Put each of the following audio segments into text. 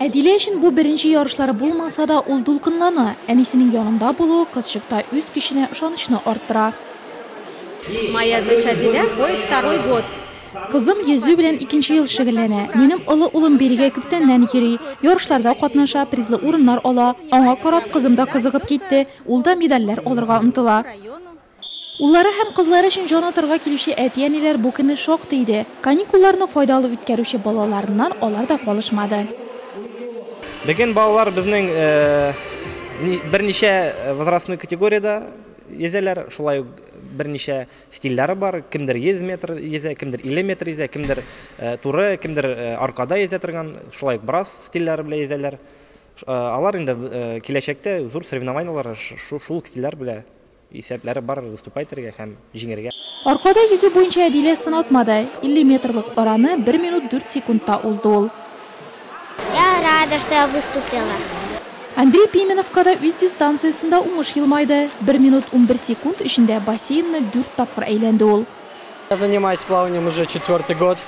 Әдилә өчен бу беренче ярышлары булмаса да, ул дулкынлана. Әнисенең янында булуы кызчыкта үз көченә ышанычны арттыра. Моя дочь Адилә ходит второй год. Кызым йөзү белән икенче ел шөгыльләнә. Минем олы улым бирегә күптәннән йөри, ярышларда катнаша, призлы урыннар ала. Аңа карап, кызым да кызыгып китте, ул да медальләр алырга омтыла. Уллары һәм кызлары өчен җан атарга килүче әти-әниләр бу көнне шактый иде. Каникулларны файдалы үткәрүче балаларыннан алар да калышмады. Бүген балалар безнең берничә возрастной категориядә йөзәләр, шулай ук берничә стильләре бар, кемдер 100 метр йөзә, кемдер 50 метр йөзә, кемдер туры, кемдер аркада йөзә торган, шулай ук брас стильләре белән йөзәләр. Алар инде киләчәктә зур соревнованиеләргә шул стильләр белән Исәпләре бар выступать итәргә һәм җиңәргә. Аркада йөзү буенча Әдилә сынатмады, 50 метрлык араны бер минут дүрт секундта узды ул. Я рада, что я выступила. Андрей Пименовка да үз дистанциясендә уңыш елмайды, бер минут унбер секунд эчендә бассейнны дүрт тапкыр әйләнде ул. Я занимаюсь плаванием уже четвертый год.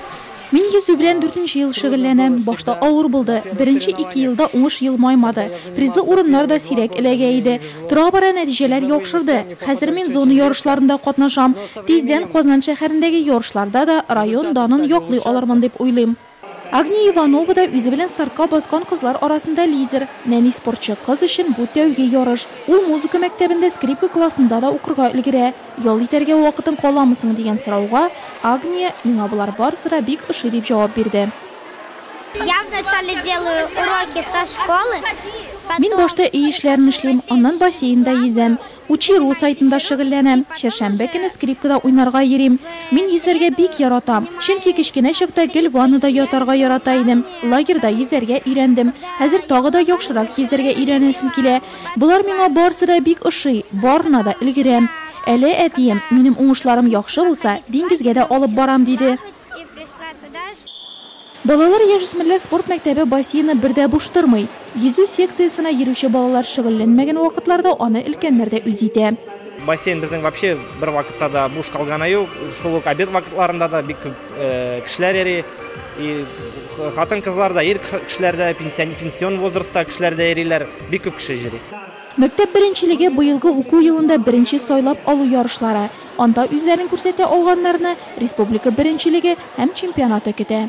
Мин йөзү белән дүртенче ел шөгыльләнәм. Башта авыр булды. Беренче ике елда уңыш елмаймады. Призлы урыннар да сирәк эләгә иде. Тора-бара нәтиҗәләр яхшырды. Хәзер мин зона ярышларында катнашам. Тиздән Казан шәһәрендәге ярышларда да район данын яклый алырмын дип уйлыйм. Агния Иванова да үзе белән стартка баскан кызлар арасында лидер. Нәни спортчы кыз өчен бу тәүге ярыш. Ул музыка мәктәбендә скрипка классында да укырга өлгерә. Ял итәргә вакытың каламы соң дигән сорауга Агния, Миңа болар барысы да бик ошый, дип җавап бирде. Я вначале делаю уроки со школы, потом. Мин башта өй эшләрен эшлим, аннан бассейнда йөзәм. Учи-ру сайтында шөгыльләнәм. Чәршәмбе көне скрипкада уйнарга йөрим. Мин йөзәргә бик яратам. Чөнки кечкенә чакта гел ваннада ятарга ярата идем. Лагерьда йөзәргә өйрәндем. Хәзер тагы да яхшырак йөзәргә өйрәнәсем килә. Болар миңа барысы да бик ошый, барына да өлгерәм. Әле әтием, минем уңышларым яхшы булса, диңгезгә дә алып барам, диде. Балалар, яшүсмерләр спорт мәктәбе бассейны бер дә буш тормый. Йөзү секциясенә йөрүче балалар шөгыльләнмәгән вакытларда аны өлкәннәр дә үз итә. Бассейн безнең вообще бервакытта да буш калганы юк. Шул ук обед вакытларында да бик күп кешеләр йөри. И хатын-кызлар да, ир кешеләр дә, пенсион возрастта кешеләр дә йөриләр. Бик күп кеше йөри. Мәктәп беренчелеге быелгы уку елында беренче сайлап алу ярышлары, анда үзләрен күрсәтә алганнарны республика беренчелеге һәм чемпионаты көтә.